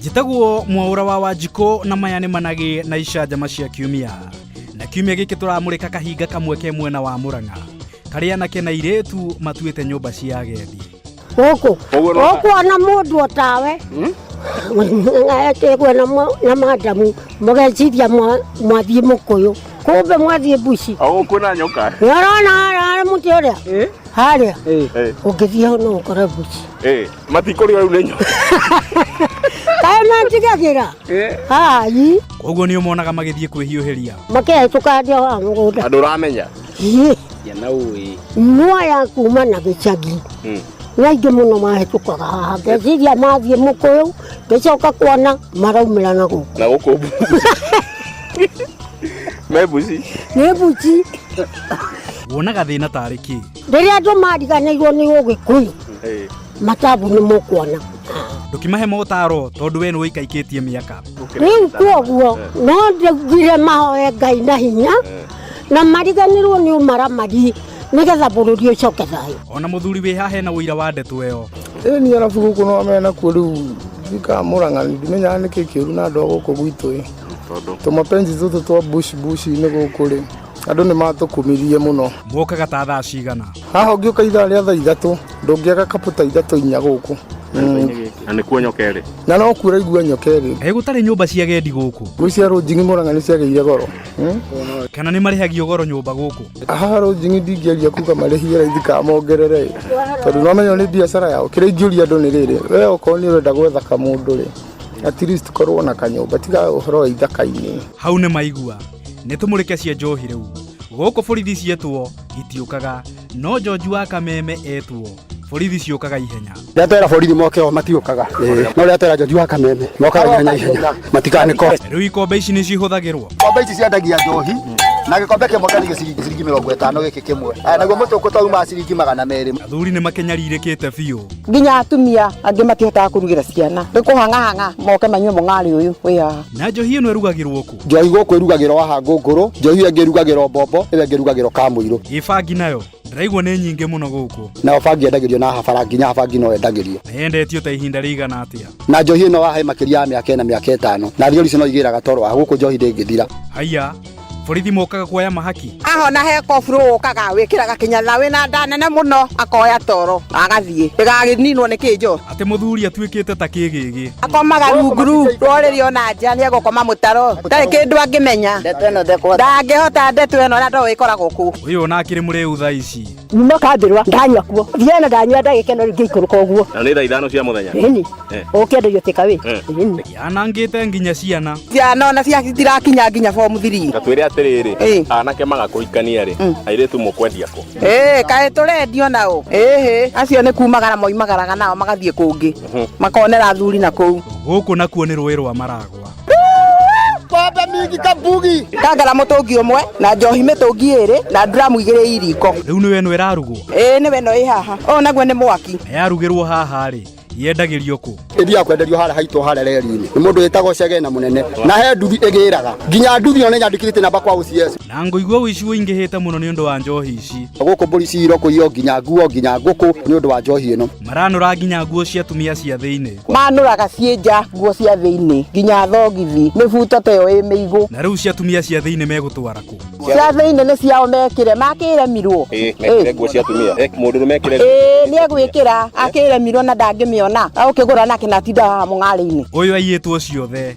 njĩtagwo mwaũra wa wanjikũ na maya nĩ managĩ na icanjama cia kiumia na kiumia gĩkĩ tũramũrĩka kahinga kamwe ke mwena wa mũrang'a karĩa anake na irĩtu matuĩte nyũmba cia agendi gũkũ ũkuona mũndũ otawe ekĩgwe na madamu mũgeciria mwathiĩ mũkũyũ kumbe mwathiĩ mbuci kwĩna nyoka nĩorona harĩa mũtĩ ũrĩa harĩa ũngĩthiĩ hau no ũkore mbuci Matikũrĩo rĩu nĩ nyoni. Kaĩ manjigagĩra? Ai, koguo nĩ ũmonaga magĩthiĩ kwĩhiũhĩria makehĩtũka andĩa wa mũgũnda. Andũ ũramenya. Ĩ, Ya na ũĩ. Nua ya kuma na gĩcagi. Mm. Nĩ aingĩ mũno mahĩtũkaga haha. Ngeciria mathiĩ mũkũyũ, ngĩcoka kuona maraumĩra na gũkũ. Na gũkũ mbuzi. Me mbuzi. Nĩ mbuci. wonaga thĩna tarĩ kĩ Rĩrĩa andũ mariganĩirwo nĩ ũgĩkũyũ matabu nĩ mũkuona ndũkimahe motaro tondũ we nĩ ũikaikĩtie mĩaka rĩu kwoguo no ndugire mahoe ngai na hinya na mariganĩrwo nĩ ũmaramari nĩgetha bũrũri ũcoke thayũ ona mũthuri wĩ haha hena ũira wa ndeto ĩyo ĩni arabu gũkũ no mena kuo rĩu ndikamũranga ndimenyaga nĩkĩ kĩũru na andũ a gũkũ gwitũ ĩ tũmapenzi tũtũ twa bush bush-inĩ gũkũ rĩ andũ nĩ matũkumirie mũno mũkaga ta thaa cigana haha ũngĩũka ithaa rĩa thaa ithatũ ndũngĩaga kapũ ta ithatũ inya gũkũ na nĩ kuo nyoka ĩrĩ na no kuo ũraigua nyoka ĩrĩ ĩ gũtarĩ nyũmba cia gendi gũkũ gwĩ cia rũnjingi mũranga nĩ ciagĩire goro Hmm? kana nĩ marĩhagio goro nyũmba gũkũ haha rũnjingi ndingĩaria kuga marĩhie raithi ka mongerere ĩ. tondũ no menya nĩ biacara yao kĩrĩa ingĩũria andũ nĩ rĩrĩ we okorwo nĩ ũrenda gwetha kamũndũ rĩ at least korwo na kanyũmba tiga ũhoro wa ithaka-inĩ hau nĩ maigua nĩ tũmũrĩke cia njohi rĩu gũkũ borithi cietwo itiũkaga no njonji wa kameme etwo borithi ciũkaga ihenya rä atwera borithi moke o matiũkaga no rä atwera njonji wa kameme mokaga ihenya ihenya matikanä ko rĩu ikombe ici nĩ cihũthagĩrwo kombe ici ciendagia njohi na gĩkombe kĩmwe kĩarĩ gĩciringi ciringi mĩrongo ĩtano gĩkĩ kĩmwe Aya, naguo mũtũkũ twauma ciringi magana merĩ athuri nĩ makenyarirĩkĩte biũ nginya atumia angĩ matihotaga kũrugĩra ciana nĩ kũhang'ahang'a moke manyue mũng'arĩ ũyũ wĩ haha na njohi ĩno ĩrugagĩrwo kũ njohi gũkũ ĩrugagĩrwo haha ngũngũrũ njohi ĩyo ĩngĩ ĩrugagĩrwo mbombo ĩyo ĩngĩ ĩrugagĩrwo kamũirũ gĩbangi nayo ndĩraigua nĩ nyingĩ mũno gũkũ nayo bangi yendagĩrio na habara nginya habangi no yendagĩrio na yendetio ta ihinda rĩigana atĩa na njohi ĩno wahe makĩria ya mĩaka ĩna mĩaka ĩtano na thigari icio no igĩraga toro wa gũkũ njohi ndĩngĩthira haiya borithi mokaga kuoya mahaki ahona he koburu ũkaga wĩkĩraga kĩnyatha wĩna nda nene mũno akoya toro agathiĩ ndĩgagĩninwo nĩ kĩnjo atä må thuri atuĩkĩte ta kĩgĩgĩ akomaga rungu ru rorĩrĩ ona nja nĩ egũkoma mũtaro ndarĩ kĩndũ angĩmenya ndangĩhota ndeto ĩno na ndoĩ ĩkoragwo kũ ũyũ nake rĩ mũrĩu thaa ici nyuma kambĩrwa ndanyua kuo thiana ndanyua ndagĩke no rĩngĩ ikũrũka ũguo na nä thaa ithano cia må thenya ĩni Eh. ũkĩenderio tĩka wĩ Eh. ĩni yanangĩte nginya ciana ciana ona cia citirakinya nginya bomu thiri na twä re atä rä rä Ĩĩ. anake magakå hikania rä airä tu må kwendia kå ä kaä tå rendio nao ä acio nä kumagara moimagaraga nao magathiä kå ngä makonera thuri na kå u gũkũ nakuo nĩ rũĩ rwa maragwa pombe mingi kabugi kangara mutungi umwe na njohi mitungi iri na dramu igiri iriko riu niwe no irarugwo ii niwe no ihaha o naguo ni mwaki yarugirwo haha ri yendagĩrio kũ ĩthiaga kwenderio harĩa haitũ harĩa reri-inĩ nĩ mũndũ wĩtagwo cegena mũnene na he nduthi ĩgĩraga nginya nduthi ĩyo nĩ nyandĩkĩte namba kwa OCS na ngũigua ũici ũingĩhĩte mũno nĩ ũndũ wa njohi ici gũkũ mbũri ciro kũiywo nginya nguo nginya ngũkũ nĩ ũndũ wa njohi ĩno maranũra nginya nguo cia tumia cia thĩinĩ manũraga ciĩ nja nguo cia thĩinĩ nginya thogithi mĩbuto ta ĩyo ĩ mĩigũ na rĩu cia atumia cia thĩinĩ megũtwara kũ cia thĩinĩ nĩ ciao mekĩre makĩremirwo Ĩĩ, mekĩre nguo cia atumia Eh, mũndũ mekĩre ĩĩ nĩ egwĩkĩra akĩremirwo na ndangĩmĩona agũkĩgũra nake na atinda haha mũng'arĩ-inĩ ũyũ aiyĩtwo ciothe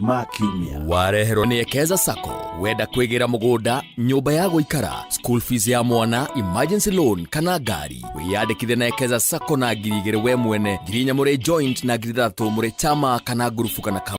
ma kiumia wareherwo nĩ ekeza sacco wenda kwĩgĩra mũgũnda nyũmba ya gũikara school fees ya mwana emergency loan kana ngari wĩyandĩkithe na ekeza sacco na ngiri igĩrĩ we mwene ngiri inya mũrĩ joint na ngiri ithathatũ mũrĩ chama kana ngurubu kana